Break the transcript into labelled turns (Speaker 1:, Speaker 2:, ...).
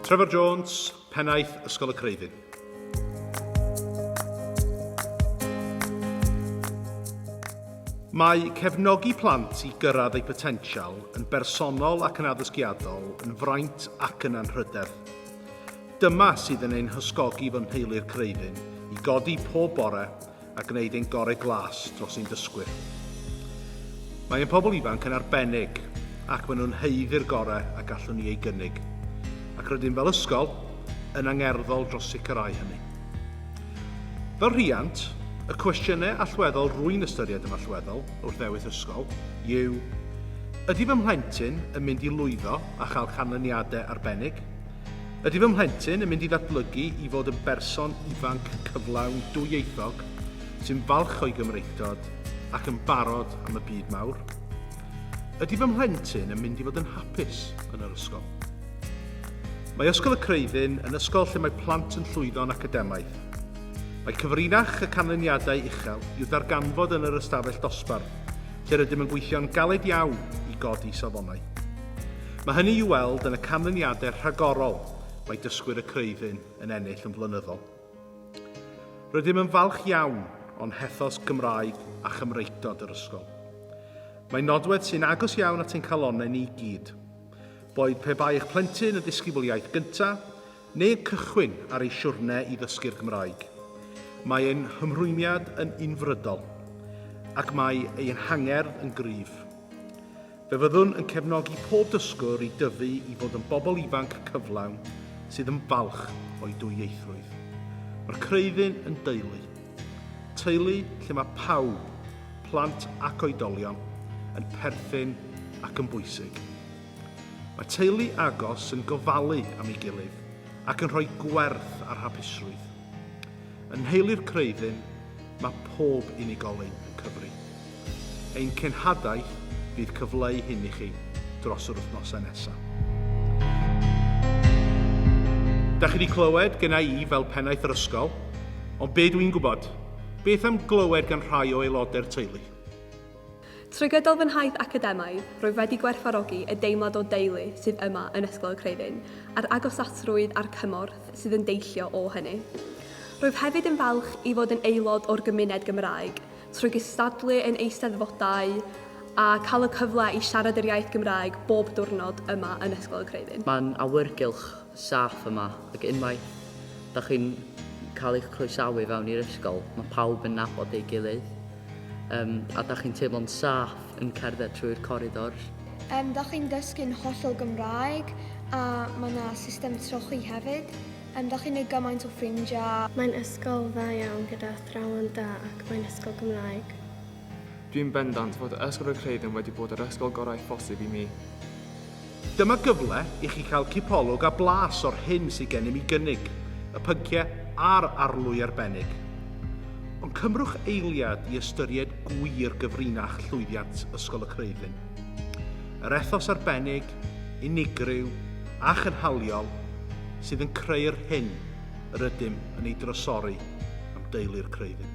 Speaker 1: Trevor Jones, Pennaeth Ysgol y Creiddyn. Mae cefnogi plant i gyrraedd eu potensial yn bersonol ac yn addysgiadol yn fraint ac yn anrhydedd. Dyma sydd yn ein hysgogi fy nheulu'r Creiddyn i godi pob bore a gwneud ein gorau glas dros ein dysgwyr. Mae ein pobl ifanc yn arbennig ac maen nhw'n heiddi'r gorau a gallwn ni ei gynnig, ac rydym fel ysgol yn angerddol dros sicrhau hynny. Fel rhiant, y cwestiynau allweddol rwy'n ystyried yn allweddol wrth ddewis ysgol yw Ydy fy mhlentyn yn mynd i lwyddo a chael canlyniadau arbennig? Ydy fy mhlentyn yn mynd i ddatblygu i fod yn berson ifanc cyflawn dwyieithog sy'n falch o'i Gymreictod ac yn barod am y byd mawr? Ydy fy mhlentyn yn mynd i fod yn hapus yn yr ysgol? Mae Ysgol y Creuddyn yn ysgol lle mae plant yn llwyddo'n academaidd. Mae cyfrinach y canlyniadau uchel i'w ddarganfod yn yr ystafell dosbarth, lle rydym yn gweithio'n galed iawn i godi safonau. Mae hynny i'w weld yn y canlyniadau rhagorol mae dysgwyr y Creuddyn yn ennill yn flynyddol. Rydym yn falch iawn o'n hethos Gymraeg a Chymreictod yr ysgol. Mae nodwedd sy'n agos iawn at ein calonnau ni i gyd. Boed pe bai eich plentyn yn ddisgybl iaith gyntaf, Neu cychwyn ar ei siwrne i ddysgu'r Gymraeg. Mae ein hymrwymiad yn unfrydol ac mae ein hangerdd yn gryf. Fe fyddwn yn cefnogi pob dysgwr i dyfu i fod yn bobl ifanc cyflawn sydd yn falch o'i dwyieithrwydd. Mae'r Creuddyn yn deulu. Teulu lle mae pawb, plant ac oedolion, yn perthyn ac yn bwysig. Mae teulu agos yn gofalu am ei gilydd ac yn rhoi gwerth ar hapusrwydd. Yn nheulu'r Creuddyn, mae pob unigolyn yn cyfri. Ein cenhadaeth fydd cyfleu hyn i chi dros yr wythnosau nesaf. Da chi wedi clywed gyna i fel pennaeth yr ysgol, ond be dwi'n gwybod? Beth am glywed gan rhai o aelodau'r teulu?
Speaker 2: Trwy gydol fy nhaith academaidd, rwyf wedi gwerthfawrogi y deimlad o deulu sydd yma yn Ysgol y Creuddyn, a'r agosatrwydd a'r cymorth sydd yn deillio o hynny. Rwyf hefyd yn falch i fod yn aelod o'r gymuned Gymraeg, trwy gystadlu yn eisteddfodau a cael y cyfle i siarad yr iaith Gymraeg bob diwrnod yma yn Ysgol y Creuddyn. Mae'n awyrgylch
Speaker 3: saff yma ac unwaith da chi'n cael eich croesawu fewn i'r ysgol, mae pawb yn nabod ei gilydd um, a da chi'n teimlo'n saff yn cerdded trwy'r coridors. Um, da chi'n
Speaker 4: dysgu'n hollol Gymraeg a mae yna system trochi hefyd. Um, da chi'n ei gymaint o ffrindiau. Mae'n ysgol dda
Speaker 5: iawn gyda athrawon da ac mae'n ysgol Gymraeg. Dwi'n
Speaker 6: bendant fod y Ysgol Rhycreid yn wedi bod yr ysgol gorau phosib i mi. Dyma
Speaker 1: gyfle i chi cael cipolwg a blas o'r hyn sydd gennym i gynnig, y pynciau a'r arlwy arbennig. Ond cymrwch eiliad i ystyried gwir gyfrinach llwyddiant Ysgol y Creuddyn. Yr ethos arbennig, unigryw a chynhaliol sydd yn creu'r hyn yr ydym yn ei drysori am deulu'r Creuddyn.